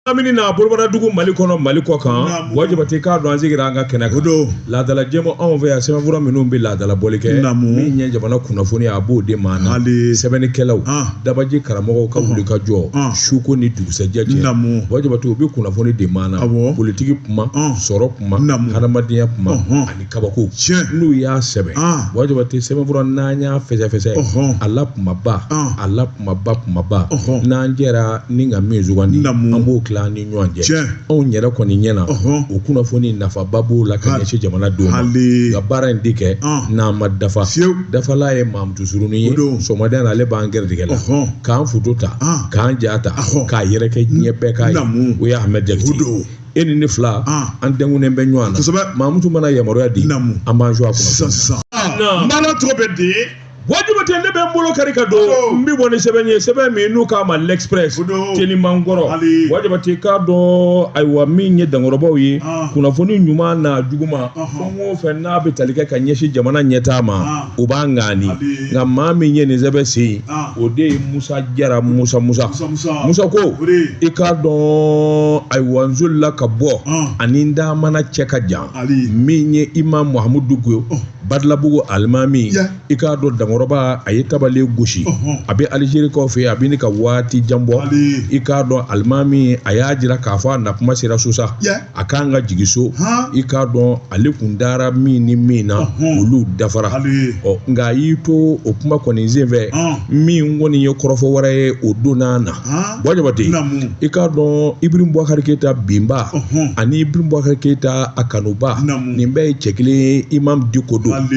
lamini n'a bolobaradugu mali kɔnɔ mali kɔ kan buwa jabate k'a dɔn an sigira an ka kɛnɛ kan laadala jɛmu anw fɛ yan sɛbɛnfura minnu bɛ laadala bɔli kɛ min ye jamana kunnafoni a b'o de maana sɛbɛnnikɛlaw dabaji karamɔgɔw ka wulikajɔ suko ni dugusɛjɛ cɛ buwa jabate u bɛ kunnafoni de maana politiki kuma sɔrɔ kuma hadamadenya kuma ani kabako n'u y'a sɛbɛn buwa jabate sɛbɛnfura n'an y'a fɛsɛfɛsɛ a la kumaba a la kumaba kumaba n'an jɛra ni ka min sugandi an b'o tila an ni ɲɔgɔn cɛ anw yɛrɛ kɔni ɲɛna o kunnafoni nafaba b'o la ka ɲɛsin jamana denw ma nka baara in de kɛ n'an ma dafa dafala ye mamutu surunnin ye sɔgɔmada na ale b'an gɛrɛtigɛ la k'an foto ta k'an ja ta k'a yɛrɛkɛ diɲɛ bɛɛ k'a ye o ye ahmed jakite e ni ne fila an denkunnen bɛ ɲɔgɔn na mamutu mana yamaruya di an b'an su a kɔnɔ sisan sisan n b'a la tɔgɔ bɛ di buwa jabate ne bɛ n bolo kari ka don n bɛ bɔ ni sɛbɛn ye sɛbɛn min n'u k'a ma l'express telimankɔrɔ buwa jabate i k'a dɔn ayiwa min ye dankɔrɔbaw ye ah. kunnafoni ɲuman n'a juguman fɛn o fɛn n'a bɛ tali kɛ ka ɲɛsin jamana ɲɛtaa ma ah. o b'a ŋaani nka maa min ye nin sɛbɛn sen ah. o de ye musa jara musa musa musa ko i k'a dɔn ayiwa n solila ka bɔ ani n da mana cɛ ka jan min ye imam mahamudu diko oh. badalabugu alimami i k'a dɔn dankɔrɔba a ye tabale gosi a bɛ alizerikaw fɛ a bɛ ne ka waati jan bɔ i k'a dɔn alimami a y'a jira k'a fɔ a na kuma sera so sa a ka kan ka jigi so i k'a dɔn ale tun taara min ni min na olu dafara ɔ nka a y'i to o kuma kɔni senfɛ min kɔni ye kɔrɔfɔ wɛrɛ ye o donna na Buwa jabate i k'a dɔn ibirahimu bubakari keyita binba ani ibirahimu bubakari keyita a kanuba nin bɛɛ ye cɛ kelen imam diko don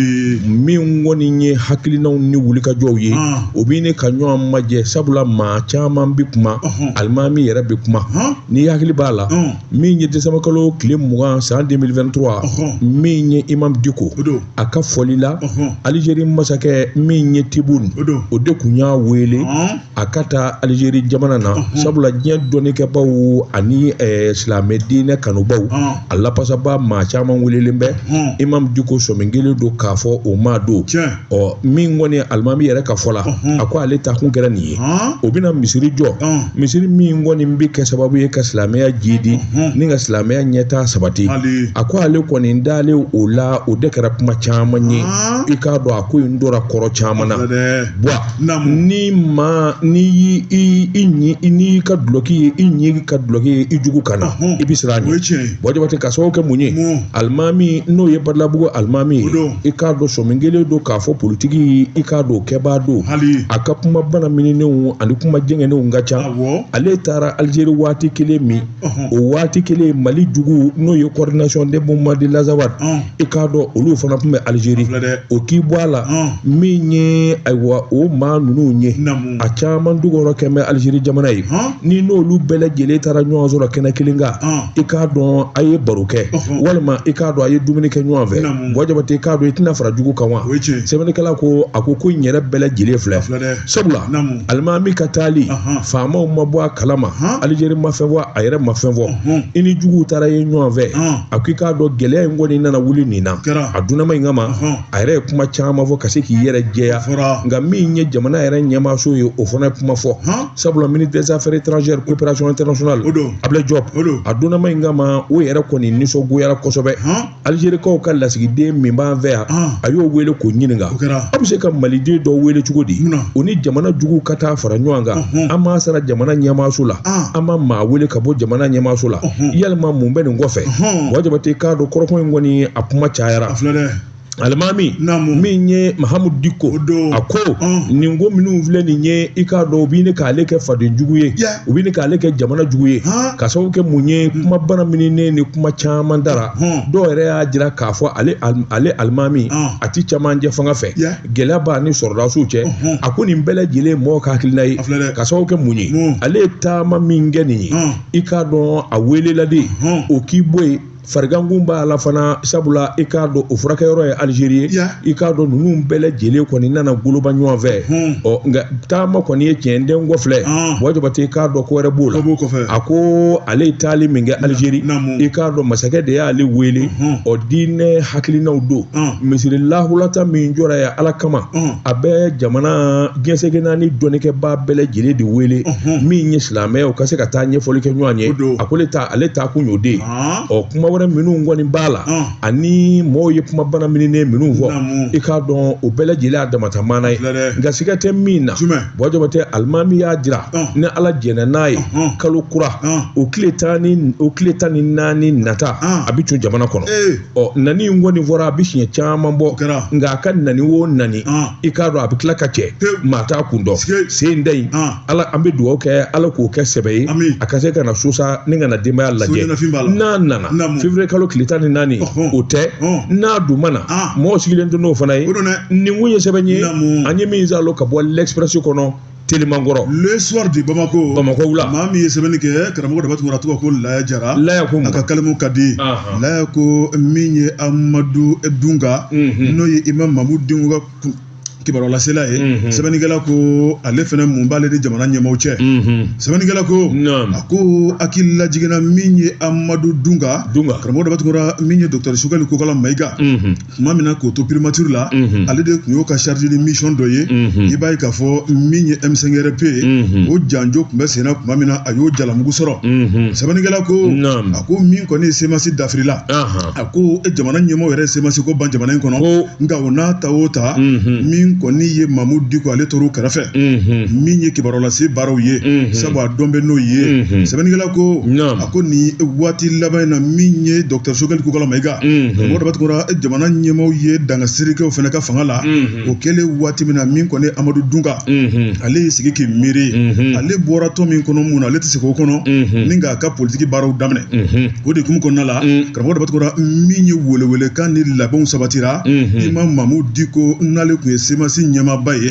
min kɔni ye hakilinaw ni wulikajɔw ye o bɛ ne ka ɲɔgɔn majɛ sabula maa caman bɛ kuma alimami yɛrɛ bɛ kuma n'i hakili b'a la min ye desanburukalo tile mugan san 2023 min ye imam diko a ka fɔli la alizeri masakɛ min ye tibun o de tun y'a wele a ka taa alizeri jamana na sabula diɲɛ dɔnnikɛbaw ani eh, silamɛ diinɛ kanubaw a lapasaba maa caman welelen bɛ imam diko sɔmin kelen don k'a fɔ o ma don ɔ min kɔni alimami yɛrɛ ka fɔ la a ko ale ta kun kɛra nin ye o bɛna misiri jɔ misiri min kɔni bɛ kɛ sababu ye ka silamɛya jidi ni ka silamɛya ɲɛtaa sabati a ko ale kɔni taalen o la o de kɛra kuma caman ye i k'a dɔn a ko in dɔra kɔrɔ caman na buwa ni ma ni y'i i i n'i ka dulɔki ye i ɲin ka dulɔki ye i jugu kan na i bɛ siran a ɲɛ bɔn jabate ka sababu kɛ mun ye alimami n'o ye badalabugu alimami ye i k'a dɔn sɔmin kɛlen don k'a fɔ politiki i k'a dɔn kɛbaa don a ka kuma banamininenw ani kuma jɛngɛnenw ka ca ale taara alizeri waati kelen min o waati kelen mali jugu n'o ye coordination de mouvement de l'azawad i k'a dɔn olu fana tun bɛ alizeri o k'i bɔ a la min ye ayiwa o maa ninnu ye a caman dogoyɔrɔ kɛlen bɛ alizeri jamana ye ni n'olu bɛɛ lajɛlen taara ɲɔgɔn sɔrɔ kɛnɛ kelen kan i k'a dɔn a ye baro kɛ walima i k'a dɔn a ye dumuni kɛ ɲɔgɔn fɛ bɔn jabate i k'a dɔn i tɛna fara jugu kan wa sɛbɛnnikɛla ko a ko ko in yɛrɛ bɛɛ lajɛlen filɛ sabula alimami ka taali faamaw ma bɔ a kalama alizeri ma fɛn fɔ a yɛrɛ ma fɛn fɔ i ni juguw taara yen ɲɔgɔn fɛ a ko i k'a dɔn gɛlɛya in kɔni nana wuli nin na a dunanma in kama a yɛrɛ ye kuma caman fɔ ka se k'i yɛrɛ jɛya nka min ye jamana yɛrɛ ɲɛmaaso ye o fana ye kuma fɔ sabula ministre des affaires étrangères coopération internationale abila jɔp a donnama in kama o yɛrɛ kɔni nisɔngoyara kosɛbɛ alizerikaw ka lasigiden min b'an fɛ yan a y'o wele k'o ɲininka a bɛ se ka maliden dɔ wele cogo di o ni jamana juguw ka taa fara ɲɔgɔn kan a m'a sara jamana ɲɛmaaso la a ma maa wele ka bɔ jamana ɲɛmaaso la yalima mun bɛ nin kɔfɛ wa jabate k'a dɔn kɔrɔfɔ in kɔni a kuma cayara a filɛ dɛ alimami Naamu. min ye mahamudu diko O don. a ko Ɔn. nin ko minnu filɛ nin ye i k'a dɔn u bɛ ɲini k'ale kɛ faden jugu ye Ya. u bɛ ɲini k'ale kɛ jamana jugu ye Han. ka sababu kɛ mun ye kuma banamininen ni kuma caman dara Hɔn. dɔw yɛrɛ y'a jira k'a fɔ ale al- ale alimami Ɔn. a ti caman jɛ fanga fɛ Ya. gɛlɛya b'a ni sɔrɔdasiw cɛ Ɔhɔn. a ko nin bɛɛ lajɛlen mɔgɔ ka hakilina ye A filɛ dɛ. ka sababu kɛ mun ye Mun? ale ye taama min kɛ nin ye Ɔn. i k'a dɔn a welela de Ɔhɔn. o k'i bɔ yen farigankun b'a la fana sabula i k'a dɔn o furakɛyɔrɔ ye alizeri ye i k'a dɔn ninnu bɛɛ lajɛlen kɔni nana goloba ɲɔgɔn fɛ ɔ nka taama kɔni ye tiɲɛ den kɔfilɛ wa jabate i k'a dɔn ko wɛrɛ b'o la a ko ale ye taali min kɛ alizeri i k'a dɔn masakɛ de y'ale wele ɔ diinɛ hakilinaw don misiri lahulata min jɔra yen ala kama a bɛ jamana diɲɛ seleke naani dɔnnikɛbaa bɛɛ lajɛlen de wele min ye silamɛ ye u ka se ka taa ɲɛfɔli kɛ ɲɔgɔn ye a ko ale ta ale taa kun y'o den ɔ kuma wɛrɛ minnu kɔni b'a la ani mɔgɔw ye kuma banamininen minnu fɔ i k'a dɔn o bɛɛ lajɛlen a damata maana ye nka siga tɛ min na bɔn jabate alimami y'a jira ni ala jɛnna n'a ye kalo kura o tile tan ni naani nata a bɛ don jamana kɔnɔ ɔ nani in kɔni fɔra a bɛ siɲɛ caman bɔ nka a ka nani o nani i k'a dɔn a bɛ tila ka cɛ maa t'a kun dɔn sen in ta in na an bɛ dugawu kɛ ala k'o kɛ sɛbɛ ye a ka se ka na so sa ni ka na denbaya lajɛ n'a nana février kalo tile tan ni naani o tɛ n'a dun ma na mɔgɔ sigilen don n'o fana ye nin kun ye sɛbɛn ye an ye min sɔrɔ ka bɔ l'express kɔnɔ teliman kɔrɔ le soir de bamako bamako la maa min ye sɛbɛnni kɛ karamɔgɔ daba tunkara tɔgɔ ko laya jara laya ko a ka kalimu ka di laya ko min ye amadu dunga mhm. n'o ye imam mamudu diko ka kibaruyalasela ye mhm. sɛbɛnnikɛla ko ale fana mun b'ale ni jamana ɲɛmaaw cɛ mhm. sɛbɛnnikɛla ko a ko hakili lajigin na min ye amadu dunga karamɔgɔ daba tunkara min ye dɔkitɛri sogɛli kokala mayiga tuma min na k'o to primature la ale de tun y'o ka chargé de mission dɔ ye i b'a ye k'a fɔ min ye M5RP ye o janjo tun bɛ senna tuma min na a y'o jalamugu sɔrɔ sɛbɛnnikɛla ko a ko min kɔni ye semasi dafirila a ko jamana ɲɛmɔgɔ yɛrɛ semasi ko ban jamana in kɔnɔ nka o n'a ta o ta min kɔni ye Mamudu Diko ale tor'o kɛrɛfɛ min ye kibaruya lase baaraw ye sabu a dɔn bɛ n'o ye sɛbɛnnikɛla ko a ko nin waati laban in na min ye dɔkitɛri sogɛli kokala mayiga karamɔgɔ daba tunkara jamana ɲɛmaaw ye danga siri kɛ o fana ka fanga la o kɛlen waati min na min kɔni amadu dunga ale y'i sigi k'i miiri ale bɔra tɔn min kɔnɔ mun na ale tɛ segin o kɔnɔ ni k'a ka politiki baaraw daminɛ o de hukumu kɔnɔna la karamɔgɔ daba tunkara min ye welewele kan ni labɛnw sabatira imam mamu diko n'ale tun ye semasi ɲɛmaaba ye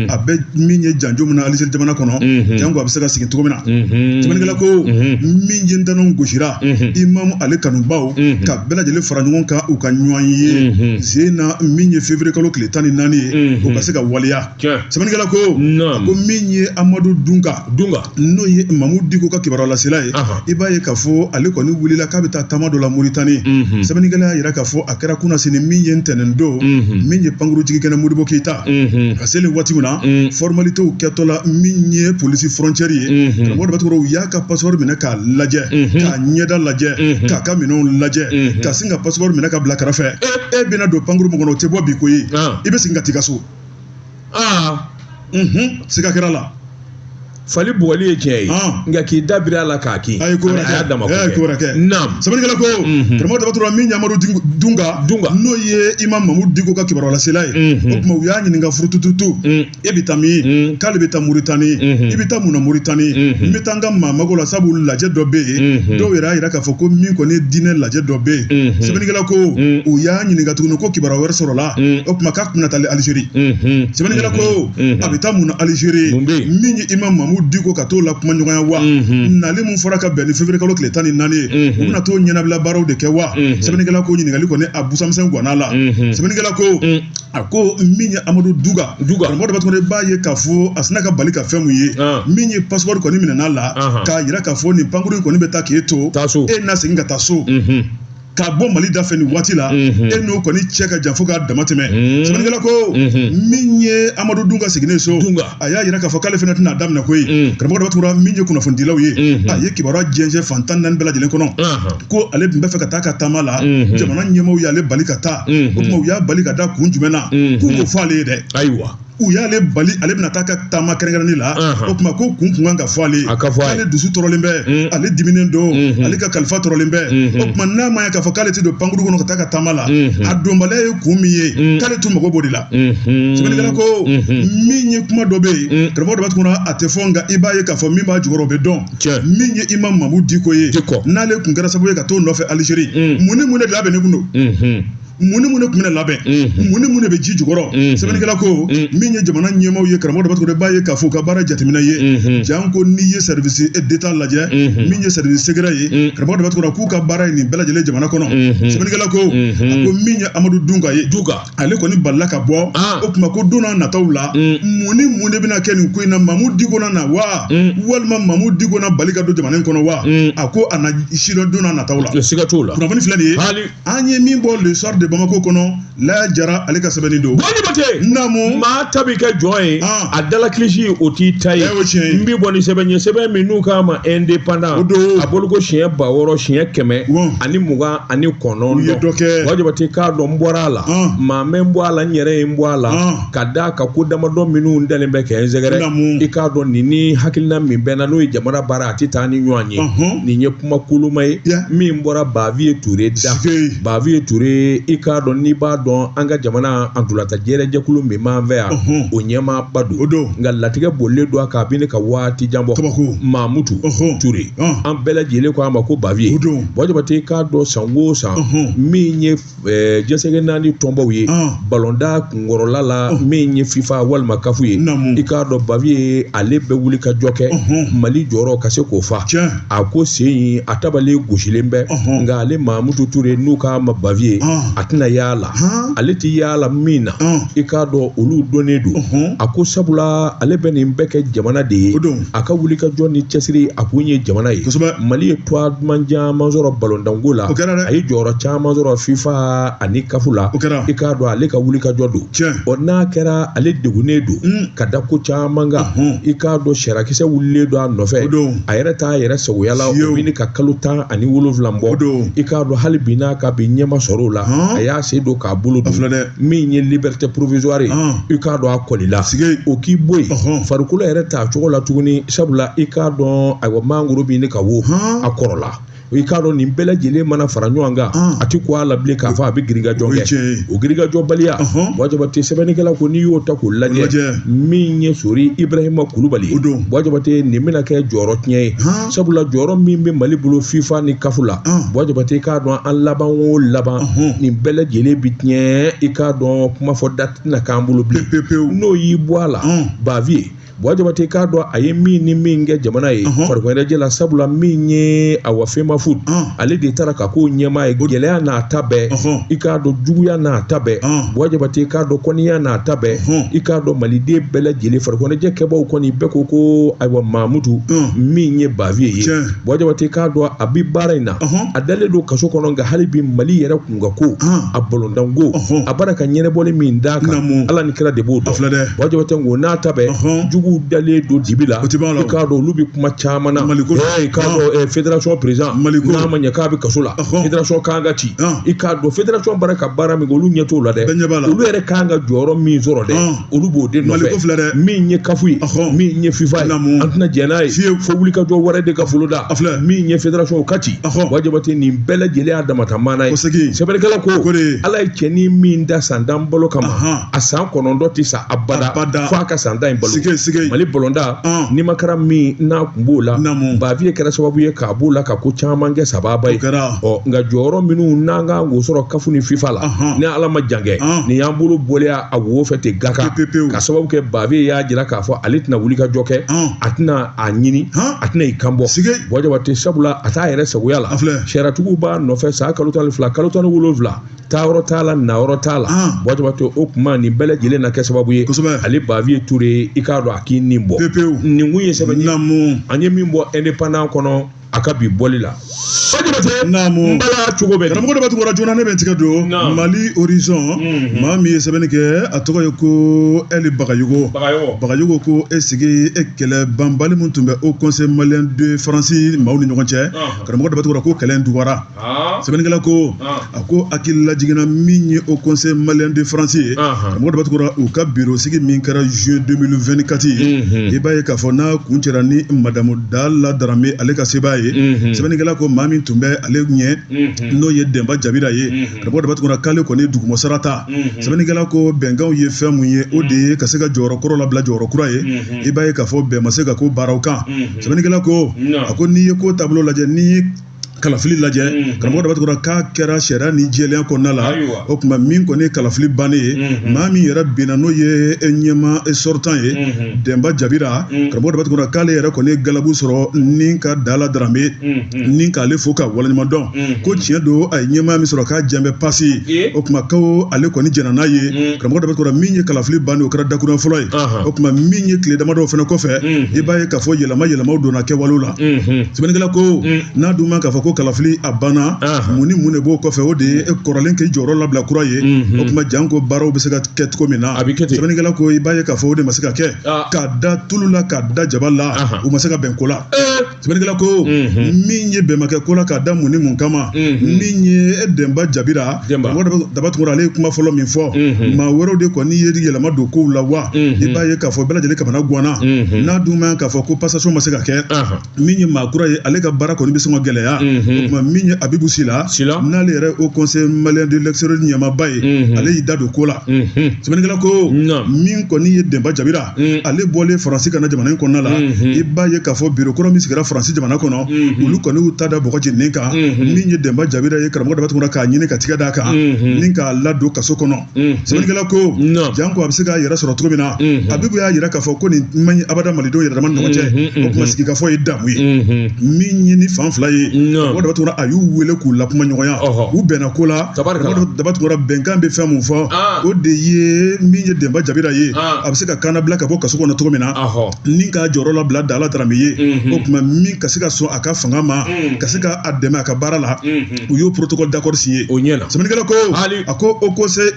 a bɛ min ye janjo min na alizeri jamana kɔnɔ janko a bɛ se ka segin cogo min na sɛbɛnnikɛla ko min ye ntananw gosira imamu ale kanubaw ka bɛɛ lajɛlen fara ɲɔgɔn kan u ka ɲɔgɔn ye sen na min ye février kalo tile tan ni naani ye o ka se ka waleya sɛbɛnnikɛla ko a ko min ye amadu dunga dunga n'o ye mamudu diko ka kibaruya lasela ye i b'a ye k'a fɔ ale kɔni wulila k'a bɛ taa taama dɔ la moritani sɛbɛnnikɛla y'a jira k'a fɔ a kɛra kunasini min ye ntɛnɛn don min ye pankurujigin kɛnɛ modibo keyita a seli waati min na fɔrmalitew kɛtɔ la min ye polisi frontière ye karamɔgɔ daba tunkara u y'a ka passeport minɛ k'a lajɛ k'a ɲɛda lajɛ k'a ka minɛnw lajɛ ka sin ka passeport minɛ k'a bila kɛrɛfɛ e bɛna don pankuru min kɔnɔ o tɛ bɔ bi koyi i bɛ segin ka t'i ka so aa unhun siga kɛra la fali bugɔli ye tiɲɛ ye Ah. nka k'i da biri a la k'a kin a ye ko wɛrɛ a y'a dama kɛ a ye ko wɛrɛ kɛ naam sɛbɛnnikɛla ko Mhm. karamɔgɔ daba tunkara min ye amadu Ding- dunga Dunga. n'o ye imam mamudu diko ka kibaruya lasela ye Mhm. o tuma u y'a ɲininka furutututu Mm. e bɛ taa min Mm. k'ale bɛ taa muritani Mhm. i bɛ taa mun na muritani Mhm. n bɛ taa n ka maa mago la sabu lajɛ dɔ bɛ yen Mhm. dɔw yɛrɛ y'a jira k'a fɔ ko min kɔni ye diinɛ lajɛ dɔ bɛ yen Mhm. sɛbɛnnikɛla ko Mhm. u y'a ɲininka tuguni ko kibaruya wɛrɛ sɔrɔla mm. o tuma k'a kun na taa alizeri mm-hmm. sɛbɛnnikɛla ko mm-hmm. a bɛ taa mun na alizeri min ye imam mamudu diko ka t'o lakumaɲɔgɔnya wa mm-hmm. nali min fɔra ka bɛn ni février kalo tile tan ni naani ye u bɛna t'o ɲɛnabila baaraw de kɛ wa sɛbɛnnikɛla ko ɲininkali kɔni a busamisɛn guwanna la sɛbɛnnikɛla ko mm. a ko min ye amadu dunga karamɔgɔ daba tunkara i b'a ye k'a fɔ a sinna ka bali ka fɛn mun ye ah. min ye passeport kɔni minɛna a la k'a yira k'a fɔ nin pankuru in kɔni bɛ taa k'e to e na segin ka taa so k'a bɔ mali da fɛ nin waati la e n'o kɔni cɛ ka jan fo k'a dama tɛmɛ sɛbɛnnikɛla ko min ye amadu dunga seginnen so a y'a yira k'a fɔ k'ale fana tɛna da minɛ ko ye karamɔgɔ dɔ tora min ye kunnafonidilaw ye a ye kibaruya jɛnsɛn fan tan naani bɛɛ lajɛlen kɔnɔ ko ale tun bɛ fɛ ka taa ka taama la jamana ɲɛmaaw y'ale bali ka taa o tuma u y'a bali ka da kun jumɛn na k'u k'o fɔ ale ye dɛ ayiwa u y'ale bali ale bɛna taa ka taama kɛrɛnkɛrɛnni la o tuma ko kun kun kan ka fɔ ale ye k'ale dusu tɔɔrɔlen bɛ mm. ale diminen don mm-hmm. ale ka kalifa tɔɔrɔlen bɛ mm-hmm. o tuma n'a ma ye k'a fɔ k'ale tɛ don pankuru kɔnɔ ka taa ka taama la mm-hmm. a donbaliya ye kun min ye mm. k'ale tun mago b'o de la sɛbɛnnikɛla ko min ye kuma dɔ bɛ yen mm. karamɔgɔ dɔ b'a tuguna a tɛ fɔ nka i b'a ye k'a fɔ min b'a jukɔrɔ o bɛ dɔn min ye Imam Mamu Diko ye n'ale tun kɛra sababu ye ka t'o nɔfɛ Algérie mun ni mun de labɛnnen tun don mun ni mun de tun bɛna labɛn mun ni mun de bɛ ji jukɔrɔ sɛbɛnnikɛla ko min ye jamana ɲɛmaaw ye karamɔgɔ dɔ bɛ b'a ye k'a fɔ u ka baara jateminɛ ye janko n'i ye service d'état lajɛ min ye service secret ye karamɔgɔ dɔ bɛ k'u ka baara ye nin bɛɛ lajɛlen jamana kɔnɔ sɛbɛnnikɛla ko a ko min ye amadu dunga ye dunga ale kɔni balila ka bɔ o tuma ko don n'a nataw la mun ni mun de bɛna kɛ nin ko in na mamu diko na na wa walima mamu diko na bali ka don jamana in kɔnɔ wa a ko an n'a sidɔn don n'a nataw la siga t'o la kunnafoni filɛ nin ye an ye min bɔ le soir de Bamako kɔnɔ Laya Jara ale ka sɛbɛnni don. Bɔ Jabate. Naamu. Maa ta b'i kɛ jɔn ye. Ah. A da la kilisi o t'i ta ye. Ɛɛ o tiɲɛ ye. N bɛ bɔ ni sɛbɛn ye sɛbɛn min n'u k'a ma indépendant. O don. A bolo ko siɲɛ ba wɔɔrɔ siɲɛ kɛmɛ. Wɔn. Ani mugan ani kɔnɔntɔn. U ye dɔ kɛ. Bɔ Jabate i k'a dɔn n bɔra a la. Ah. Maa ma n bɔ a la n yɛrɛ ye n bɔ a la. Ah. Ka d'a kan ko damadɔ minnu dalen bɛ ka n sɛgɛrɛ. Naamu. I k'a dɔn nin ni hakilina min bɛ n na n'o ye jamana baara a tɛ taa ni ɲɔgɔn ye. Ɔnhɔn. Nin ye kuma koloma ye min bɔra baviye ture da baviye ture i k'a dɔn n'i b'a dɔn an ka jamana ntolatan jɛrɛ jɛkulu min b'an fɛ yan o ɲɛmaaba don o don nka latigɛ bolilen don a kan a bɛ ɲini ka waati jan bɔ kabako mamutu ture an bɛɛ lajɛlen ko a ma ko baviye o don bɔ jabate i k'a dɔn san o san min ye ɛɛ diɲɛ seleke naani tɔnbaw ye Ɔn. balontan kunkɔrɔla la min ye fifa walima kafu ye Naamu. i k'a dɔn baviye ale bɛ wuli ka jɔ kɛ Ɔhɔn. mali jɔyɔrɔ ka se k'o fa Tiɲɛ. a ko sen in a tabale gosilen bɛ Ɔhɔn. nka ale mamutu ture n'u k'a ma baviye Ɔn. a tɛna y'a la Ɔn. ale tɛ y'a la min na Ɔn. i k'a dɔn olu dɔnnen don Ɔhɔn. a ko sabula ale bɛ nin bɛɛ kɛ jamana de ye O don. a ka wuli ka jɔ ni cɛsiri a kun ye jamana ye kosɛbɛ mali ye tɔgɔ duman caman sɔrɔ balontanko la o kɛra dɛ a ye jɔyɔrɔ caman sɔrɔ fifa ani kafu la o kɛra i k'a dɔn ale ka wuli ka jɔ don tiɲɛ ɔ n'a kɛra ale degunnen don hmm. ka da ko caman kan i k'a dɔn sariya kisɛ wulilen don a nɔfɛ a yɛrɛ t'a yɛrɛ sagoya la o bɛ ɲini ka kalo tan ani wolonwula bɔ i k'a dɔn hali bi n'a ka bi ɲɛ ma sɔrɔ o la a y'a sen don k'a bolo don min ye liberté provisoire i k'a dɔn a kɔlila o k'i bɔ yen farikolo yɛrɛ t'a cogo la tuguni sabula i k'a dɔn ayiwa mangoro bɛ ɲini ka wo a kɔrɔla i k'a dɔn nin bɛɛ lajɛlen mana fara ɲɔgɔn kan a tɛ ko a la bilen k'a fɔ a bɛ girinkajɔ kɛ o girinkajɔbaliya buwa jabate sɛbɛnnikɛla ko n'i y'o ta k'o lajɛ min ye sori ibarahima kulubali buwa jabate nin bɛna kɛ jɔyɔrɔ tiɲɛ ye sabula jɔyɔrɔ min bɛ mali bolo fifa ni kafu la buwa jabate i k'a dɔn an laban o laban nin bɛɛ lajɛlen bi tiɲɛ i k'a dɔn kuma fɔ da tɛna k'an bolo bilen n'o y'i bɔ a la baviye buwa jabate k'a dɔn a ye min ni min kɛ jamana ye farikoloɲɛnajɛ la sabula min ye awa femafoot ale de taara ka k'o ɲɛmaa ye gɛlɛya n'a ta bɛɛ i k'a dɔn juguya n'a ta bɛɛ buwa jabate i k'a dɔn kɔniya n'a ta bɛɛ i k'a dɔn maliden bɛɛ lajɛlen farikoloɲɛnajɛ kɛbaaw kɔni bɛɛ ko ko ayiwa mamutu min ye baviye ye buwa jabate k'a dɔn a bi baara in na a dalen don kaso kɔnɔ nka hali bi mali yɛrɛ ka ko a balɔntan ko a bara ka ɲɛnabɔli min d'a kan ala ni kira de b'o dɔn buwa jabate ko n'a ta bɛɛ juguw dalen don dibi la i k'a dɔn olu bɛ kuma caman na i k'a dɔn federasɔn perezidan n'a ma ɲɛ k'a bɛ kaso la federasɔn kan ka ci i k'a dɔn federasɔn bara ka baara min kɛ olu ɲɛ t'o la dɛ olu yɛrɛ kan ka jɔyɔrɔ min sɔrɔ dɛ olu b'o de nɔfɛ ko filɛ dɛ min ye kafu ye min ye fifa ye an tɛna jɛn n'a ye fiyewu fo wuli ka jɔ wɛrɛ de ka folo da a filɛ min ye federation o ka ci buwa jabate nin bɛɛ lajɛlen y'a damata maana ye sɛbɛnnikɛla ko ala ye cɛni min da san tan balo kama a san kɔnɔntɔn tɛ sa abada fo a ka san tan in balo mali balɔntan nimakaran min n'a kun b'o la baviye kɛra sababu ye k'a b'o la ka ko caman kɛ sababa ye ɔ nka jɔyɔrɔ minnu n'an kan k'o sɔrɔ kafu ni fifa la ni ala ma jan kɛ nin y'an bolo bɔlen ye a wo fɛ ten k'a ka sababu kɛ baviye y'a jira k'a fɔ ale tɛna wuli ka jɔ kɛ a tɛna a ɲini a tɛna i kan bɔ buwa jabate sabula a t'a yɛrɛ sagoya la sariyatigiw b'a nɔfɛ sa kalo tan ni fila kalo tan ni wolonwula taa yɔrɔ t'a la na yɔrɔ t'a la buwa jabate o kuma nin bɛɛ lajɛlen na kɛ sababu ye ale baviye ture i k'a dɔn a k'i nin bɔ nin kun ye sɛbɛn an ye min bɔ indépendant kɔnɔ a ka bi bɔli la n bala cogo bɛ karamɔgɔ daba tunkara joona ne bɛ n tigɛ don mali horizon mhm. maa min ye sɛbɛnni kɛ a tɔgɔ ye ko ɛli bagayogo bagayogo ko e sigi e kɛlɛ banbali min tun bɛ haut conseil malien de faransi maaw ni ɲɔgɔn cɛ karamɔgɔ daba tunkara ko kɛlɛ in dugara sɛbɛnnikɛla ko a ko hakili lajiginna min ye haut conseil malien de france ye karamɔgɔ daba tunkara u ka biro sigi min kɛra juin 2024 ye i b'a ye k'a fɔ n'a kuncɛra ni madamu dala darame ale ka sebaa ye sɛbɛnnikɛla ko maa min tun bɛ ale ɲɛ n'o ye denba jabira ye karamɔgɔ daba tunkara k'ale kɔni dugumasara ta sɛbɛnnikɛla ko bɛnkanw ye fɛn min ye o de ye ka se ka jɔyɔrɔ kɔrɔ labila jɔyɔrɔ kura ye i b'a ye k'a fɔ bɛn ma se ka k'o baaraw kan sɛbɛnnikɛla ko a ko n'i ye ko taabolo lajɛ ni kalafili lajɛ karamɔgɔ daba tugura k'a kɛra sariya ni jɛlenya kɔnɔna la o tuma min kɔni ye kalafili bannen ye maa min yɛrɛ binna n'o ye ɲɛmaa sortant ye denba jabira karamɔgɔ daba tugura k'ale yɛrɛ kɔni ye galabu sɔrɔ ni ka dala darame ni k'ale fo ka waleɲuman dɔn ko tiɲɛ don a ye ɲɛma min sɔrɔ k'a jɛnbɛ pasi o tuma ko ale kɔni jɛnna n'a ye karamɔgɔ daba tugura min ye kalafili bannen o kɛra dakurun fɔlɔ ye o tuma min ye tile damadɔ fana kɔfɛ i b'a ye k'a fɔ yɛlɛma yɛlɛmaw donna kɛwale la sɛbɛnnikɛla ko n'a dun ma k'a fɔ ko kalafili a banna mun ni mun de b'o kɔfɛ o de ye kɔrɔlen k'i jɔyɔrɔ labila kura ye o tuma janko baaraw bɛ se ka kɛ cogo min na sɛbɛnnikɛla ko i b'a ye k'a fɔ o de ma se ka kɛ k'a da tulu la k'a da jaba la u ma se ka bɛn ko la sɛbɛnnikɛla ko min ye bɛnbakɛ ko la k'a da mun ni mun kama min ye denba jabira daba tugura ale ye kuma fɔlɔ min fɔ maa wɛrɛw de kɔni ye yɛlɛma don kow la wa i b'a ye k'a fɔ bɛɛ lajɛlen kamana ganna n'a dun ma k'a fɔ ko passation ma se ka kɛ min ye maa kura ye ale ka baara kɔni bɛ sɔn ka gɛlɛya o tuma min ye abibu sila n'ale yɛrɛ haut conseil malien de l'extérieur ɲɛmaaba ye ale y'i da don ko la sɛbɛnnikɛla ko min kɔni ye denba jabira mm. ale bɔlen faransi ka na jamana in kɔnɔna la mm-hmm. i b'a ye k'a fɔ biro kura min sigira faransi jamana kɔnɔ mm-hmm. olu kɔni y'u ta da bɔgɔ jeninen kan mm-hmm. min ye denba jabira ye karamɔgɔ daba tugura k'a ɲini ka tigɛ d'a kan ni k'a ladon kaso kɔnɔ sɛbɛnnikɛla ko janko a bɛ se k'a yɛrɛ sɔrɔ cogo min na abibu y'a yira k'a fɔ ko nin man ɲi abada malidenw yɛrɛ dama ni ɲɔgɔn cɛ o tuma sigikafɔ ye damu ye min ye ni fan fila ye karamɔgɔ daba tugura a y'u wele k'u lakumaɲɔgɔnya u bɛnna ko la karamɔgɔ daba tugura bɛnkan bɛ fɛn mun fɔ ah. o de ye min ye denba jabira ye a bɛ se ka kannabila ka bɔ kaso kɔnɔ cogo min na ni k'a jɔyɔrɔ labila dala darame ye o tuma min ka se ka sɔn a ka fanga ma ka se ka a dɛmɛ a ka baara la u y'o protocole d'accord signé o la sɛbɛnnikɛla ko a ko haut conseil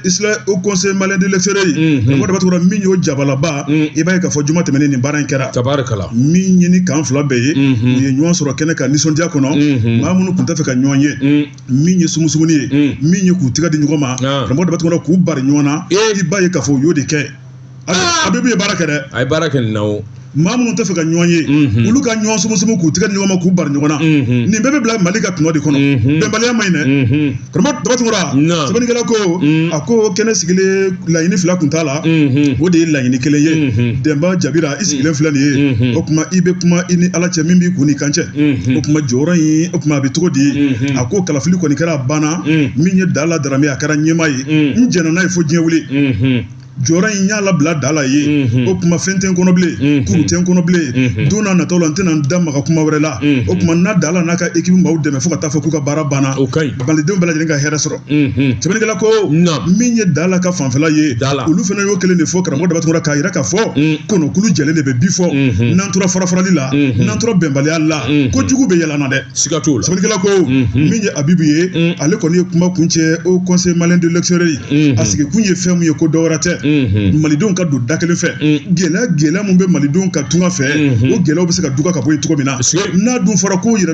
haut conseil malien de l'extérieur karamɔgɔ daba tugura min y'o jabalaba i b'a ye k'a fɔ juma tɛmɛnen nin baara in kɛra tarikala min ye ni kan fila bɛɛ ye u ye ɲɔgɔn sɔrɔ kɛnɛ kan nisɔndiya kɔnɔ maa minnu tun tɛ fɛ ka ɲɔgɔn ye min ye sumusumunni ye hmm. min ye k'u tɛgɛ di ɲɔgɔn ma karamɔgɔ daba tugura k'u bari ɲɔgɔn na i b'a ye k'a fɔ u y'o de kɛ ah! abibu ye baara kɛ dɛ a ye baara kɛ nin na o maa minnu tɛ fɛ ka ɲɔgɔn ye mhm. olu ka ɲɔgɔn sumusumu k'u tɛgɛ di ɲɔgɔn ma k'u bari ɲɔgɔn na mhm. nin bɛɛ bɛ bila mali ka tɔnɔ de kɔnɔ mhm. bɛnbaliya man ɲi dɛ karamɔgɔ daba tugura sɛbɛnnikɛla ko a ko kɛnɛ sigilen laɲini fila tun t'a la o de ye laɲini kelen ye denba jabira i sigilen filɛ nin ye o tuma i bɛ kuma i ni ala cɛ min b'i kun n'i kan cɛ o tuma jɔyɔrɔ in o tuma a bɛ cogo di a ko kalafili kɔni kɛra a banna min ye dala darame a kɛra ɲɛmaa ye n jɛnna n'a ye fo diɲɛ wuli jɔyɔrɔ in n y'a labila dala ye o tuma fɛn tɛ n kɔnɔ bilen kuru tɛ n kɔnɔ bilen don n'a nataw la n tɛna n da maga kuma wɛrɛ la o tuma n na dala n'a ka équipe maaw dɛmɛ fo ka taa fɔ k'u ka baara banna malidenw bɛɛ lajɛlen ka hɛrɛ sɔrɔ sɛbɛnnikɛla ko min ye dala ka fanfɛla ye olu fana y'o kelen de fɔ karamɔgɔ daba tunkara k'a yira k'a fɔ kɔnɔkulu jɛlen de bɛ bi fɔ n'an tora farafarali la n'an tora bɛnbaliya la ko jugu bɛ yɛlɛma dɛ siga t'o la sɛbɛnnikɛla ko min ye abibu ye ale kɔni ye kuma kuncɛ haut conseil malien de l'extérieur a sigi kun ye fɛn mun ye ko dɔ wɛrɛ tɛ malidenw ka don da kelen fɛ gɛlɛya gɛlɛya mun bɛ malidenw kan tunga fɛ o gɛlɛyaw bɛ se ka duga ka bɔ yen cogo min na n'a dun fɔra ko yɛrɛ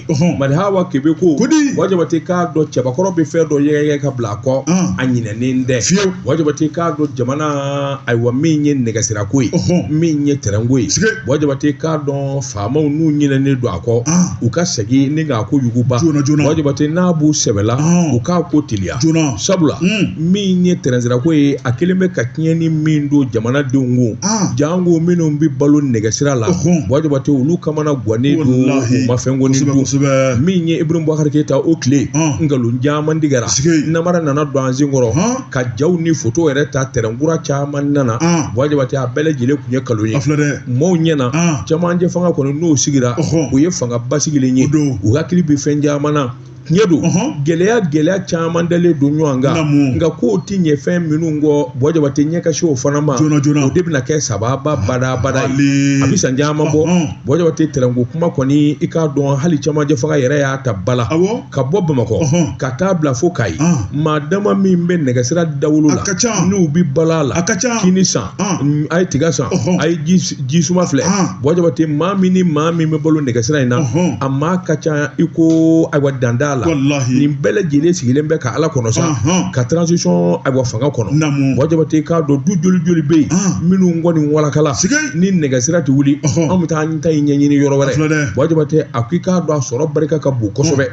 madi hawa kebe ko kodi buwa jabate k'a dɔn cɛbakɔrɔ bɛ fɛn dɔ yɛgɛyɛgɛ ka bila a kɔ a ɲinɛnen tɛ fiyewu buwa jabate k'a dɔn jamana ayiwa min ye nɛgɛsirako ye min ye tɛrɛnko ye buwa jabate k'a dɔn faamaw n'u ɲinɛnen don a kɔ u ka segin ni k'a ko yuguba joona joona buwa jabate n'a b'u sɛbɛla u k'a ko teliya joona sabula min ye tɛrɛnsira ko ye a kelen bɛ ka tiɲɛni min don jamanadenw kun janko minnu bɛ balo nɛgɛsira la buwa jabate olu kamanagannen don u ma fɛn kɔni don min ye Ibrahim Boubacar Keita o tile nkalon caman tigɛra namara nana don an sen kɔrɔ ka jaw ni foto yɛrɛ ta tɛrɛn kura caman nana buwa jabate a bɛɛ lajɛlen tun ye nkalon ye maaw ɲɛna camancɛ fanga kɔni n'o sigira o ye fanga basigilen ye u hakili bɛ fɛn caman na tiɲɛ don gɛlɛya gɛlɛya caman dalen don ɲɔgɔn kan nka ko ti ɲɛ fɛn minnu kɔ buwa jabate ɲɛ ka sin o fana ma joona joona o de bɛna kɛ sababa bada bada ye a bɛ san caman bɔ buwa jabate tɛrɛnko kuma kɔni i k'a dɔn hali camancɛ fanga yɛrɛ y'a ta ba la ka bɔ bamakɔ ka taa bila fo kayi maa dama min bɛ nɛgɛsira dawolo la n'u bɛ balo a la kini san Mm, a ye tiga san a ye ji suma filɛ buwa jabate maa min ni maa min bɛ balo nɛgɛsira in na a maa ka ca i ko ayiwa danda la nin bɛɛ lajɛlen sigilen bɛ ka ala kɔnɔ sa ka transition ayiwa fanga kɔnɔ buwa jabate i k'a dɔn du joli joli bɛ yen minnu kɔni walakala ni nɛgɛsira tɛ wuli an bɛ taa an ta in ɲɛɲini yɔrɔ wɛrɛ buwa jabate a ko i k'a dɔn a sɔrɔ barika ka bon kosɛbɛ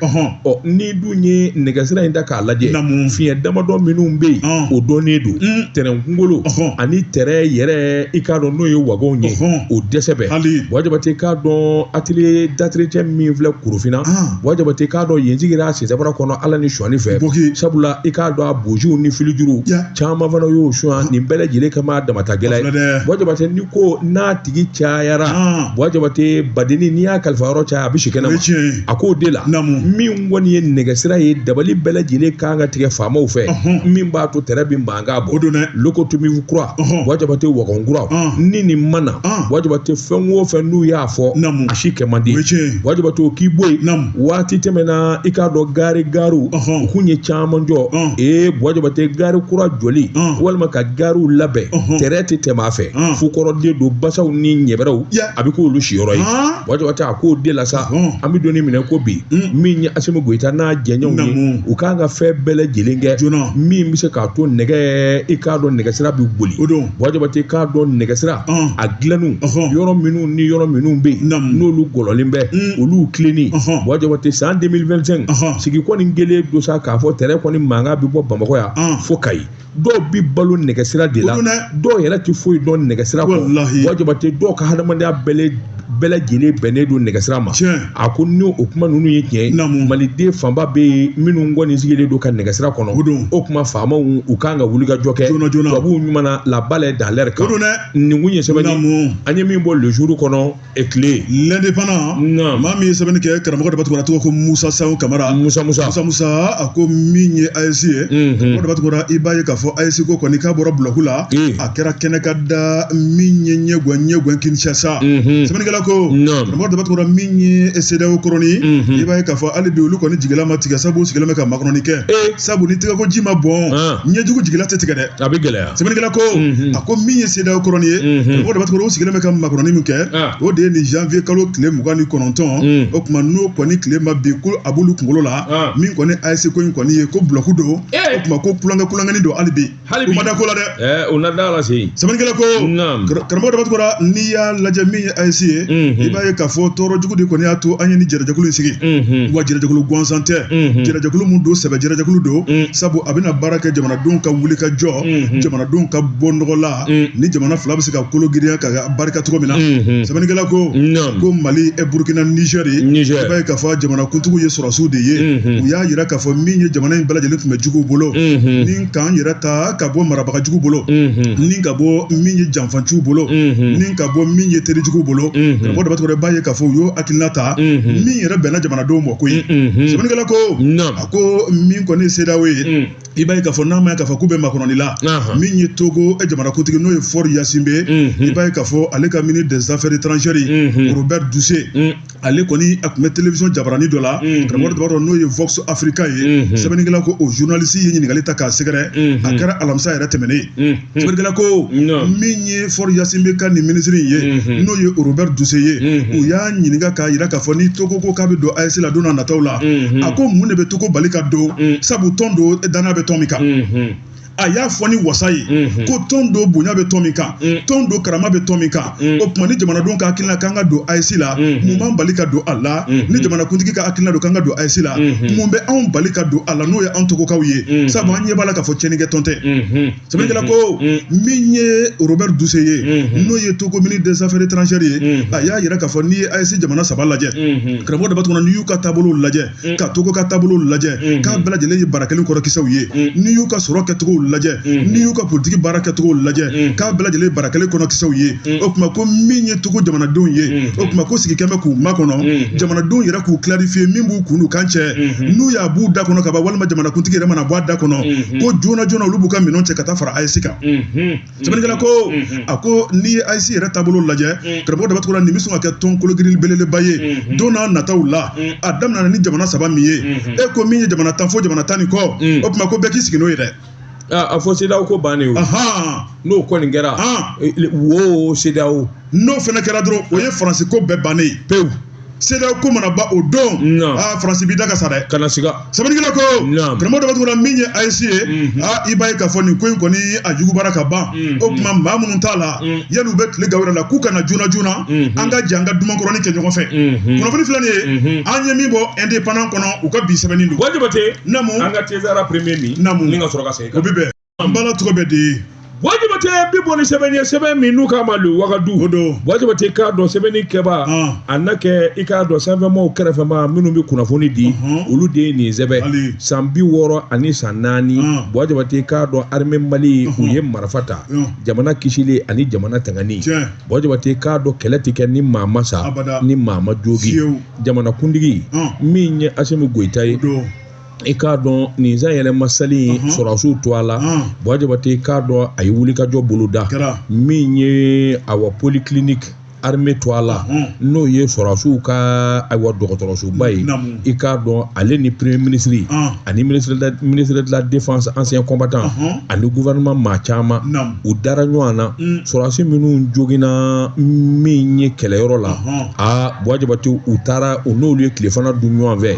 ɔ n'i dun ye nɛgɛsira in da k'a lajɛ Naamu. fiɲɛ damadɔ minnu bɛ yen Ɔn. o dɔnnen don Mm. tɛrɛn kunkolo Ɔhɔn. ani tɛrɛn yɛrɛ i k'a dɔn n'o ye wagonw ye Ɔhɔn. o dɛsɛ bɛ Hali. buwa jabate k'a dɔn atelier d'entretien min filɛ korofinna Ah. buwa jabate k'a dɔn yen sigira sisabara kɔnɔ ala ni sonyani fɛ Boki. sabula i k'a dɔn a boziw ni filijuruw Ya. caman fana y'o sonya nin bɛɛ lajɛlen kama damatagɛlɛ A filɛ dɛ. buwa jabate ni ko n'a tigi cayara buwa jabate badeni n'i y'a kalifa yɔrɔ caya a bɛ si kɛnɛma a k'o de la min kɔni ye nɛgɛsira ye dabali bɛɛ lajɛlen kan ka tigɛ faamaw fɛ min b'a to tɛrɛn bɛ mankan bɔ locomotive kura buwa jabate wagon kura ni nin ma na buwa jabate fɛn o fɛn n'u y'a fɔ a si kɛ man di buwa jabate o k'i bɔ yen waati tɛmɛna i k'a dɔn gari gariw u kun ye caman jɔ ee buwa jabate gari kura jɔli walima ka gariw labɛn tɛrɛn tɛ tɛmɛ fɛ mm. fo kɔrɔden don basaw ni ɲɛbɛrɛw a bɛ k'olu siyɔrɔ ye ah. wa Jabatɛ a k'o de la sa mm. an bɛ don ni min na i ko bi mm. min ye Asimi Goyita n'a jɛɲɔgɔnw ye u kan ka fɛn bɛɛ lajɛlen kɛ min bɛ se k'a to nɛgɛ i k'a dɔn nɛgɛsira bɛ boli wa Jabatɛ i k'a dɔn nɛgɛsira a dilanniw yɔrɔ minnu ni yɔrɔ minnu bɛ yen n'olu gɔlɔnlen bɛ olu tilenni wa Jabatɛ san 2025 sigi kɔni kɛlen don sa k'a fɔ tɛrɛn kɔni mankan bɛ bɔ Bamakɔ yan fo Kayi dɔw bi balo nɛgɛsira de la dɔw yɛrɛ tɛ foyi dɔn nɛgɛsira kɔ wa Jabatɛ dɔw ka hadamadenya bɛɛ bɛɛ lajɛlen bɛnnen don nɛgɛsira ma a ko ni o kuma ninnu ye tiɲɛ ye maliden fanba bɛ yen minnu kɔni sigilen don ka nɛgɛsira kɔnɔ o kuma faamaw u kan ka wuli ka jɔ kɛ tubabuw ɲuman na labala dalɛri kan nin kun ye sɛbɛn an ye min bɔ Le Jour kɔnɔ tile L'Indépendant maa min ye sɛbɛnni kɛ karamɔgɔ Daba Tunkara tɔgɔ ko musa sayon kamara musa a ko min ye AES ye karamɔgɔ Daba Tunkara i b'a ye k'a fɔ AES ko kɔni k'a bɔra blague la a kɛra kɛnɛkanda min ye ɲɛgɔn ɲɛgɔn kinshasa sɛbɛnnikɛla ko karamɔgɔ Daba Tunkara min ye CEDEAO kɔrɔni i b'a ye k'a fɔ hali bi olu kɔni jigila ma tigɛ sabu u sigilen bɛ ka makɔnɔni kɛ sabu ni tɛgɛkoji ma bɔn ɲɛjugu jigila tɛ tigɛ dɛ a bɛ gɛlɛya sɛbɛnnikɛla ko a ko min ye CEDEAO kɔrɔni ye karamɔgɔ Daba Tunkara u sigilen bɛ ka makɔnɔni min kɛ o de ye nin janvier kalo tile mugan ni kɔnɔntɔn o tuma n'o kɔni tile ma bin ko a b'olu kunkolo la min kɔni AES ko in kɔni ye ko blague don o tuma ko kulonkɛ kulonkɛni don hali bi u ma da ko la dɛ u na da la se sɛbɛnnikɛla ko karamɔgɔ Daba Tunkara n'i y'a lajɛ min ye AES ye i b'a ye k'a fɔ tɔɔrɔ jugu de kɔni y'a to an ye nin jɛrɛjɛkulu in sigi wa jɛrɛjɛkulu gansan tɛ jɛrɛjɛkulu mun don sɛbɛ jɛrɛjɛkulu don sabu a bɛna baara kɛ jamana denw ka wuli ka jɔ jamanadenw ka bɔ nɔgɔ la ni jamana fila bɛ se ka kolo girinya ka barika cogo min na sɛbɛnnikɛla ko ko mali ɛ burukina nizɛri i b'a ye k'a fɔ jamana kuntigiw ye sɔrɔsiw de ye u y'a yira k'a fɔ min ye jamana in bɛɛ lajɛlen tun bɛ juguw bolo ni k'an yɛrɛ ta ka bɔ marabagajugu bolo ni ka bɔ min ye janfanciw bolo ni ka bɔ min ye terijugu bolo karamɔgɔ Daba Tunkara i b'a ye k'a fɔ u y'o hakilina ta min yɛrɛ bɛnna jamanadenw ma koyi sɛbɛnnikɛla ko a ko min kɔni ye CEDEAO ye i b'a ye k'a fɔ n'a ma ye k'a fɔ k'u bɛ makɔnɔni la min ye togo eh, jamanakuntigi n'o ye Faure Gnassingbé mhm. i b'a ye k'a fɔ ale ka ministre des affaires étrangères mhm. Robert Dussé mhm. ale kɔni a tun bɛ télévision jabarani dɔ la karamɔgɔ Daba Tunkara n'o ye vox africa ye sɛbɛnnikɛla ko o journaliste ye ɲininkali ta k'a sɛgɛrɛ a kɛra alamisa yɛrɛ tɛmɛnen Sɛbɛnnikɛla ko min ye Faure Gnassingbé ka nin minisiri in ye n'o ye Robert Dussé ye u y'a ɲininka k'a jira k'a fɔ ni Togo ko k'a bɛ don AES la don nataw la a ko mun de bɛ Togo bali ka don sabu tɔn don danaya bɛ tɔn min kan a y'a fɔ ni wasa ye ko tɔn don bonya bɛ tɔn min kan tɔn don karama bɛ tɔn min kan Mm. o tuma ni jamanadenw ka hakilina k'an ka don AES la mm-hmm. mun b'an bali ka don a la mm-hmm. ni jamanakuntigi ka hakilina don k'an ka don AES la mm-hmm. mun bɛ anw bali ka don a la n'o ye anw togokaw ye sabu an ɲɛ b'a la k'a fɔ tiɲɛnikɛ tɔn tɛ sɛbɛnnikɛla ko min ye robert dussey ye n'o ye togo ministre des affaires étrangères ye a y'a yira k'a fɔ n'i ye AES jamana saba lajɛ karamɔgɔ daba tunkara n'i y'u ka taabolow lajɛ ka togo ka taabolow lajɛ k'a bɛɛ lajɛlen ye bara kelen kɔnɔ kisɛw ye n'i y'u ka sɔrɔ kɛcogow lajɛ n'i y'u ka politigi baara kɛcogo lajɛ k'a bɛɛ lajɛlen ye bara kelen kɔnɔ kisɛw ye o tuma ko min ye togo jamanadenw ye o tuma ko sigi kɛmɛ k'u makɔnɔ jamanadenw yɛrɛ k'u clarifier min b'u kun n'u kan cɛ n'u y'a b'u da kɔnɔ ka ban walima jamanakuntigi yɛrɛ mana bɔ a da kɔnɔ ko joona joona olu b'u ka minɛnw cɛ ka taa fara AES kan sɛbɛnnikɛla ko a ko n'i ye AES yɛrɛ taabolo lajɛ karamɔgɔ daba tunkara nin bɛ sɔn ka kɛ tɔn kologirin belebeleba ye don n'a nataw la a daminɛna ni jamana saba min ye e ko min ye jamana tan fo jamana tan ni kɔ o tuma ko bɛɛ k'i sigi n'o ye dɛ a fɔ CEDEAO ko bannen o n'o kɔni kɛra wo CEDEAO n'o fana kɛra dɔrɔn o ye faransi ko bɛɛ bannen ye pewu CEDEAO ko mana ban o don aa faransi b'i da ka sa dɛ kana siga sɛbɛnnikɛla ko karamɔgɔ daba tunkara min ye AES ye aa i b'a ye k'a fɔ nin ko in kɔni a jugubara ka ban o tuma maa minnu t'a la yanni u bɛ tile gan u yɛrɛ la k'u ka na joona joona an ka jɛ an ka dumankɔrɔni kɛ ɲɔgɔn fɛ kunnafoni filɛ nin ye an ye min bɔ indépendant kɔnɔ u ka bi sɛbɛnni don buwa jabate naamu an ka te sara premier min naamu ni ka sɔrɔ ka segin o bɛ bɛn an bala tɔgɔ bɛ di buwa jabate bi bɔ ni sɛbɛn ye sɛbɛn min n'u k'a ma le wagadu o don buwa jabate k'a dɔn sɛbɛnnikɛbaa a na kɛ i k'a dɔn sanfɛmaaw kɛrɛfɛmaa minnu bɛ kunnafoni di olu de ye nin sɛbɛn san bi wɔɔrɔ ani san naani buwa jabate k'a dɔn armée mali u ye marifa ta jamana kisili ani jamana tangani buwa jabate k'a dɔn kɛlɛ tɛ kɛ ni maa ma sa ni maa ma jogi jamana kuntigi min ye asimi goyita ye i k'a dɔn nin sanyɛlɛma seli in mhm. sɔrɔdasiw tɔgɔ la mhm. buwa jabate k'a dɔn a ye wulikajɔ boloda min ye awa polyclinique armée tɔgɔ la mhm. n'o ye sɔrɔdasiw ka ayiwa dɔgɔtɔrɔsoba ye i k'a dɔn ale ni premier ministre ani ministre de la défense ancien combattant ani gouvernement maa caman u dara ɲɔgɔn na mm. sɔrɔdasi minnu joginna min ye kɛlɛyɔrɔ la aa buwa jabate u taara u n'olu ye tilefana dun ɲɔgɔn fɛ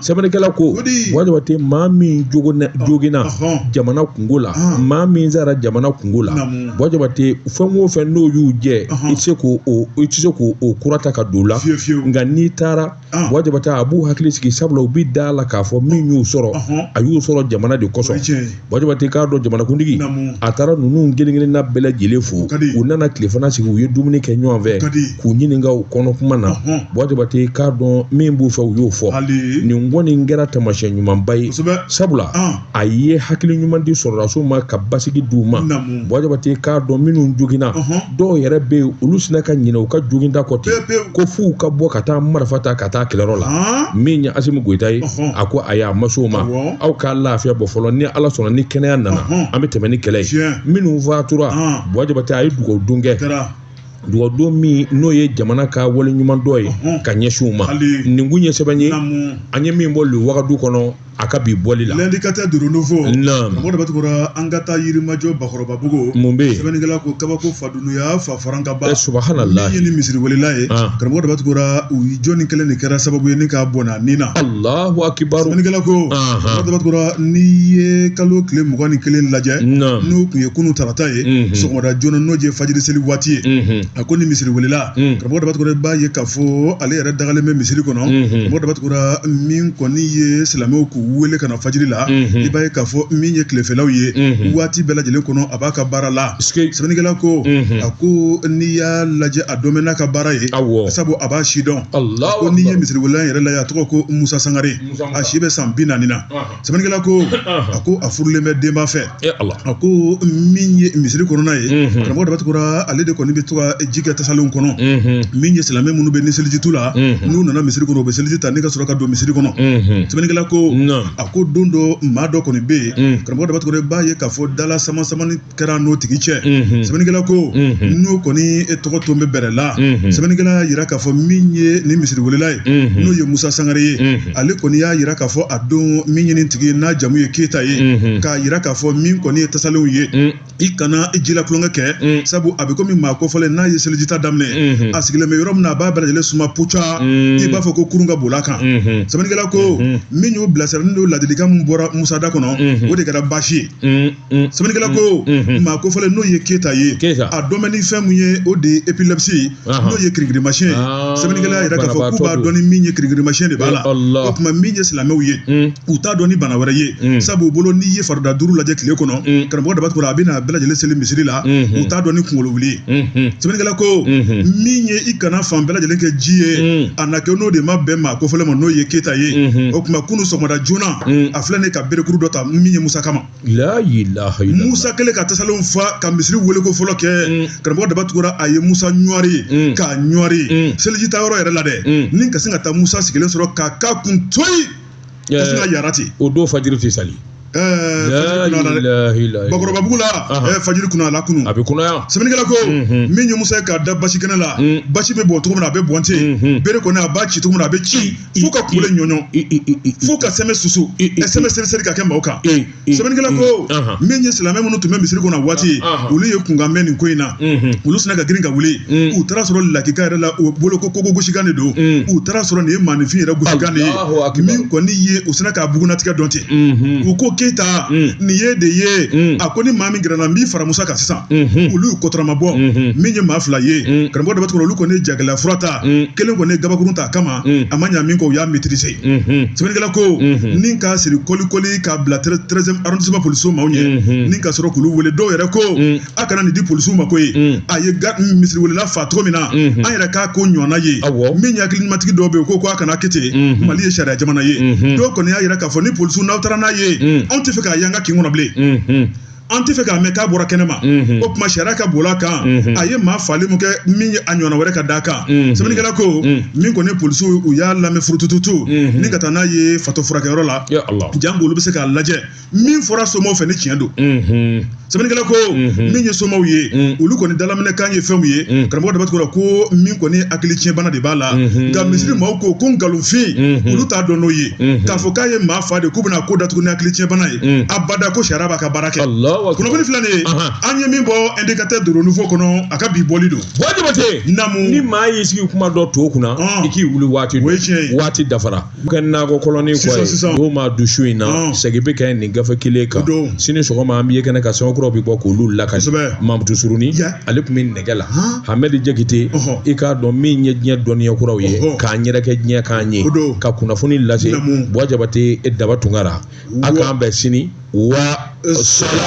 sɛbɛnnikɛla ko buwa jabate maa min joginna jamana kunko la maa min sara jamana kunko la buwa jabate fɛn o fɛn n'o y'u jɛ i tɛ se k'o o kura ta ka don o la nka n'i taara Ah. Buwa jabate a b'u hakili sigi sabula u bɛ da a la k'a fɔ min y'u sɔrɔ Ɔhɔn. a y'u sɔrɔ jamana de O ye kosɔn tiɲɛ ye. buwa jabate k'a dɔn jamanakuntigi Naamu. a taara ninnu kelen-kelenna bɛɛ lajɛlen fo O ka di. u nana tilefana sigi u ye dumuni kɛ ɲɔgɔn fɛ ka di. k'u ɲininka u kɔnɔ kuma na Ɔhɔn. buwa jabate k'a dɔn min b'u fɛ u y'o fɔ Hali. nin kɔni kɛra taamasiyɛn ɲumanba ye Kosɛbɛ. sabula Ah. a ye hakili ɲuman di sɔrɔdasiw ma ka basigi di u ma buwa jabate k'a dɔn minnu joginna dɔw yɛrɛ bɛ yen olu sina ka ɲinɛ u ka joginda kɔ ten ko f'u ka bɔ ka taa marifa ta ka taa kɛlɛyɔrɔ la min ye asimi goyita ye a ko ayi a ma s'o ma aw ka lafiya bɔ fɔlɔ ni ala sɔnna ni kɛnɛya nana an bɛ tɛmɛ ni kɛlɛ ye minnu fatura buwa jabate a ye dugawudon kɛ dugawudon min n'o ye jamana ka waleɲumandɔn ye ka ɲɛsin u ma nin kun ye sɛbɛn ye an ye min bɔ le wagadu kɔnɔ a ka bi bɔli la l'indicateur du renouveau naam mɔgɔ daba tunkara an ka taa yirimajɔ bakɔrɔba bugu mun bɛ sɛbɛnnikɛla ko kabako fa dunuya fa faran ka ba eh, subhanallah ye ni misiri welela ye ah. karamɔgɔ daba tunkara u jɔni kelen de kɛra sababu ye ni k'a bɔnɛ a ni na allahu akibar sɛbɛnnikɛla ko karamɔgɔ daba tunkara n'i ye kalo tile mugan ni kelen lajɛ n'o kun ye kunu tarata ye mhm. sɔgɔmada joona n'o ye fajiri seli waati ye mhm. a ko ni misiri welela mhm. karamɔgɔ daba tunkara i b'a ye ka fɔ ale yɛrɛ dagalen bɛ misiri kɔnɔ mɔgɔ daba tunkara min kɔni ye silamɛw k'u wele ka na fajiri la i b'a ye k'a fɔ min ye tilefɛlaw ye waati bɛɛ lajɛlen kɔnɔ a b'a ka baara la sɛbɛnnikɛla ko a ko n'i y'a lajɛ a dɔnnen bɛ n'a ka baara ye sabu a b'a sidɔn ko n'i ye misiri welela yɛrɛ lajɛ a tɔgɔ ko musa sangare a si bɛ san bi naani na sɛbɛnnikɛla ko a ko a furulen bɛ den b'a fɛ a ko min ye misiri kɔnɔna ye karamɔgɔ daba tunkara ale de kɔni bɛ to ka ji kɛ tasalenw kɔnɔ min ye silamɛ minnu bɛ ni seliji t'u la n'u nana misiri kɔnɔ u bɛ seliji ta ni ka sɔrɔ ka don misiri kɔnɔ sɛbɛnnikɛla ko a ko don dɔ maa dɔ kɔni bɛ yen karamɔgɔ daba tunkara i b'a ye k'a fɔ dala samasamani kɛra n'o tigi cɛ sɛbɛnnikɛla ko n'o kɔni e tɔgɔ tun bɛ bɛrɛ la sɛbɛnnikɛla y'a jira k'a fɔ min ye ni misiri welela ye n'o ye musa sangare ye ale kɔni y'a jira k'a fɔ a don min ye nin tigi ye n'a jamu ye keyita ye k'a jira k'a fɔ min kɔni ye tasalenw ye i kana i ji la tulonkɛ kɛ sabu a bɛ komi maa kofɔlen n'a ye selijita daminɛ a sigilen bɛ yɔrɔ min na a b'a bɛɛ lajɛlen suma puca i b'a fɔ ko kurun ka boli a kan sɛbɛnnikɛla ko min y'o bilasira n'o ladilikan min bɔra musa da kɔnɔ o de kɛra baasi ye Mm. sɛbɛnnikɛla ko mm. Mm-hmm. maa kofɔlen n'o ye keyita ye a dɔnnen bɛ ni fɛn mun ye o de ye epilepsi ye n'o ye kirikirimasiyɛn ye ah, sɛbɛnnikɛla y'a jira k'a fɔ k'u b'a dɔn ni min ye kirikirimasiyɛn de b'a la o tuma min ye silamɛw ye mm. u t'a dɔn ni bana wɛrɛ ye sabu u bolo n'i ye farida duuru lajɛ tile kɔnɔ karamɔgɔ daba tunkara a bɛ n'a bɛɛ lajɛlen seli misiri la mm-hmm. u t'a dɔn ni kunkolo wuli ye mm-hmm. sɛbɛnnikɛla ko min ye i kana fan bɛɛ lajɛlen kɛ ji ye a na kɛ n'o de ma bɛn maa kofɔlen ma n'o ye keyita ye o tuma kunu sɔgɔmada joona a filɛ ni ka berekuru dɔ ta min ye musa kama layilaha musa kɛlen ka tasalenw fa ka misiri weeleko fɔlɔ kɛ mm. karamɔgɔ daba tunkara a ye musa ɲɔri mm. k'a ɲɔri mm. seliji ta yɔrɔ yɛrɛ la dɛ ni ka sin ka taa musa sigilen sɔrɔ k'a k'a kun toyi ka sin ka yara ten o don fajiri tɛ sali bakɔrɔba bugu la fajiri kunayara kunu a bɛ kunaya sɛbɛnnikɛla ko mm-hmm. min ye musa ye k'a da basi kɛnɛ la mm. basi bɛ bɔn cogo min na a bɛ bɔn ten mm-hmm. bere kɔni a b'a ci cogo min na a bɛ ci fo ka kule ɲɔɲɔ fo ka sɛmɛ susu ka sɛmɛ seriseri ka kɛ maaw kan sɛbɛnnikɛla ko min ye silamɛ minnu tun bɛ misiri kɔnɔ waati olu ye kunkan mɛn nin ko in na olu sina ka girin ka wuli u taara sɔrɔ lakika yɛrɛ la u bolo ko kogo gosikan de don u taara sɔrɔ nin ye maaninfin yɛrɛ gosikan de ye min kɔni ye u sina k'a bugunnatigɛ dɔn ten u ko keyita nin ye de ye a ko ni maa min gɛrɛna n b'i fara musa kan sisan olu y'u kɔtɔrɔma bɔ min ye maa fila ye karamɔgɔ daba tunkara olu kɔni ye jagɛlɛya fura ta kelen kɔni ye gabakurun ta a kama mm. a ma ɲa min kɔ u y'a maîtriser mm-hmm. sɛbɛnnikɛla ko mm-hmm. ni k'a siri kolikoli k'a bila treizième arrondissement polisiw maaw ɲɛ mm-hmm. ni ka sɔrɔ k'olu wele dɔw yɛrɛ ko mm. a kana nin di polisiw ma ko ye mm. a ye misiriwelela fa cogo min na an yɛrɛ k'a ko ɲɔgɔnna ye min ye hakilimatigi dɔw bɛ yen ko ko a kana kɛ ten mali ye sariya jamana ye dɔw kɔni y'a yira k'a fɔ ni polisiw n'aw taara n'a ye anw tɛ fɛ k'a y'an ka kin kɔnɔ bilen an tɛ fɛ k'a mɛn k'a bɔra kɛnɛ ma o tuma sariya ka boli a kan a ye maa fali min kɛ min ye a ɲɔgɔnna wɛrɛ ka d'a kan sɛbɛnnikɛla ko min kɔni polisiw u y'a lamɛn furutututu ni ka taa n'a ye fato furakɛyɔrɔ la janko olu bɛ se k'a lajɛ min fɔra somaw fɛ ni tiɲɛ don sɛbɛnnikɛla ko min ye somaw ye olu kɔni dalaminɛkan ye fɛnw ye karamɔgɔ daba tunkara ko min kɔni hakili tiɲɛbana de b'a la nka misiri maaw ko ko nkalonfin olu t'a dɔn n'o ye k'a fɔ k'a ye maa fa de k'u bɛna ko datugu ni hakili tiɲɛbana ye mm. abada ko sariya b'a ka baara kɛ kunnafoni filɛ nin ye an ye min bɔ indicateur du renouveau kɔnɔ a ka bi bɔli don bɔ jabate namu ni maa y'i sigi kuma dɔ to kunna i k'i wuli waati o ye tiɲɛ ye waati dafara kɛ nakɔ kɔlɔni kɔ ye sisan o maa du su in na segin bɛ kɛ nin gafe kelen kan sini sɔgɔma an b'i ye kɛnɛ kan sɛbɛnkuraw bɛ bɔ k'olu lakali kosɛbɛ mamutu surunin ale tun bɛ nɛgɛ la hamɛdi jakite i k'a dɔn min ye diɲɛ dɔnniya kuraw ye k'an yɛrɛkɛ diɲɛ k'an ye ka kunnafoni lase bɔ jabate e daba tunkara an k'an bɛn sini wa